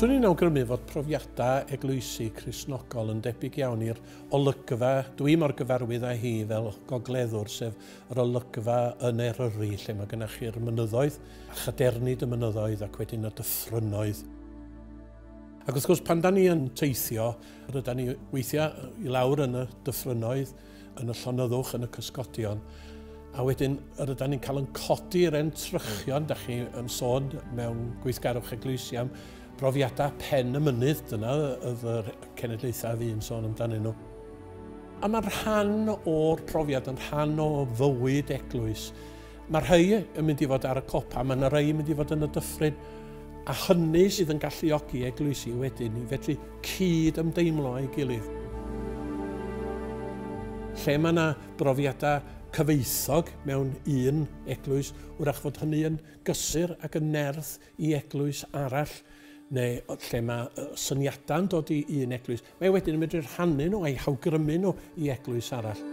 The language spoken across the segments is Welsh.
Swn i'n awgrymu fod profiadau eglwysi Cristnogol yn debyg iawn i'r olygfa dwi mor gyfarwydd â hi fel gogleddwr, sef yr olygfa yn Eryri, lle mae gennych chi'r mynyddoedd, a chadernid y mynyddoedd ac wedyn y dyffrynnoedd. Ac wrth gwrs, pan da ni yn teithio, ryda ni weithiau i lawr yn y dyffrynnoedd, yn y llonyddwch, yn y cysgodion, a wedyn yr ydan ni'n cael yn codi yr entrychion, da chi yn sôn mewn gweithgarwch eglwysi am brofiadau pen y mynydd, dyna oedd yr cenedlaethau fi'n sôn amdanyn nhw. A mae'n rhan o'r profiad, yn rhan o fywyd eglwys, Mae rhai yn mynd i fod ar y copa, mae yna rhai yn mynd i fod yn y dyffryn, a hynny sydd yn galluogi eglwysi wedyn i fedru cyd ymdeimlo â'i gilydd. Lle mae yna brofiadau cyfoethog mewn un eglwys, wrach fod hynny yn gysur ac yn nerth i eglwys arall, neu lle mae syniadau yn dod i un eglwys, mae wedyn yn medru rhannu nhw a'i hawgrymu nhw i eglwys arall.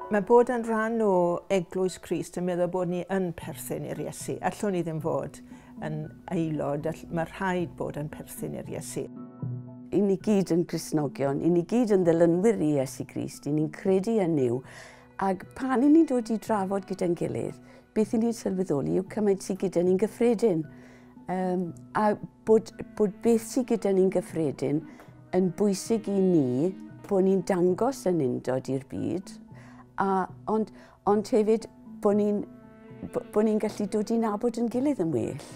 Mae bod yn rhan o Eglwys Crist yn meddwl bod ni yn perthyn i'r Iesu. Allwn ni ddim fod yn aelod, mae rhaid bod yn perthyn i'r Iesu. I ni gyd yn Gristnogion, i ni gyd yn ddilynwyr i Iesu Grist, i ni'n credu yn yw, Ac pan i ni'n dod i drafod gyda'n gilydd, beth i ni'n sylweddoli yw cymaint sydd gyda ni'n gyffredin. Um, a bod, bod beth sydd gyda ni'n gyffredin yn bwysig i ni, bod ni'n dangos yn undod i'r byd, a, ond, ond hefyd bod ni'n bod ni'n gallu dod i nabod yn gilydd yn well.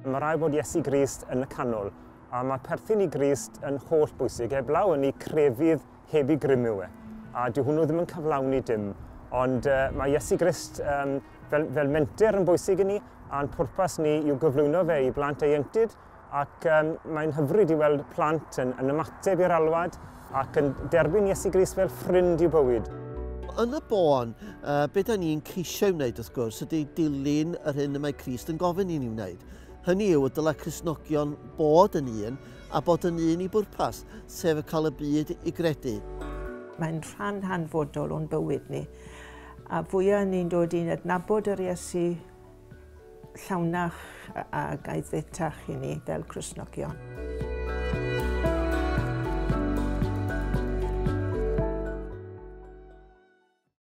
Mae rhaid bod Iesu Grist yn y canol, a mae perthyn i Grist yn holl bwysig, heblaw yn ei crefydd heb i grymu e. A dyw hwnnw ddim yn cyflawni dim. Ond uh, mae Iesu Grist um, fel, fel menter yn bwysig i ni, a'n pwrpas ni yw gyflwyno fe i blant ei enctid, ac um, mae'n hyfryd i weld plant yn, yn ymateb i'r alwad ac yn derbyn Iesu Grist fel ffrind i'w bywyd yn y bôn, uh, beth da ni'n ceisio wneud wrth gwrs ydy dilyn yr hyn y mae Christ yn gofyn i ni wneud. Hynny yw, y dylai Christnogion bod yn un a bod yn un i bwrpas, sef cael y byd i gredu. Mae'n rhan hanfodol o'n bywyd ni. A fwyaf ni'n dod i'n adnabod yr Iesu llawnach a gaethetach i ni fel Cresnogion.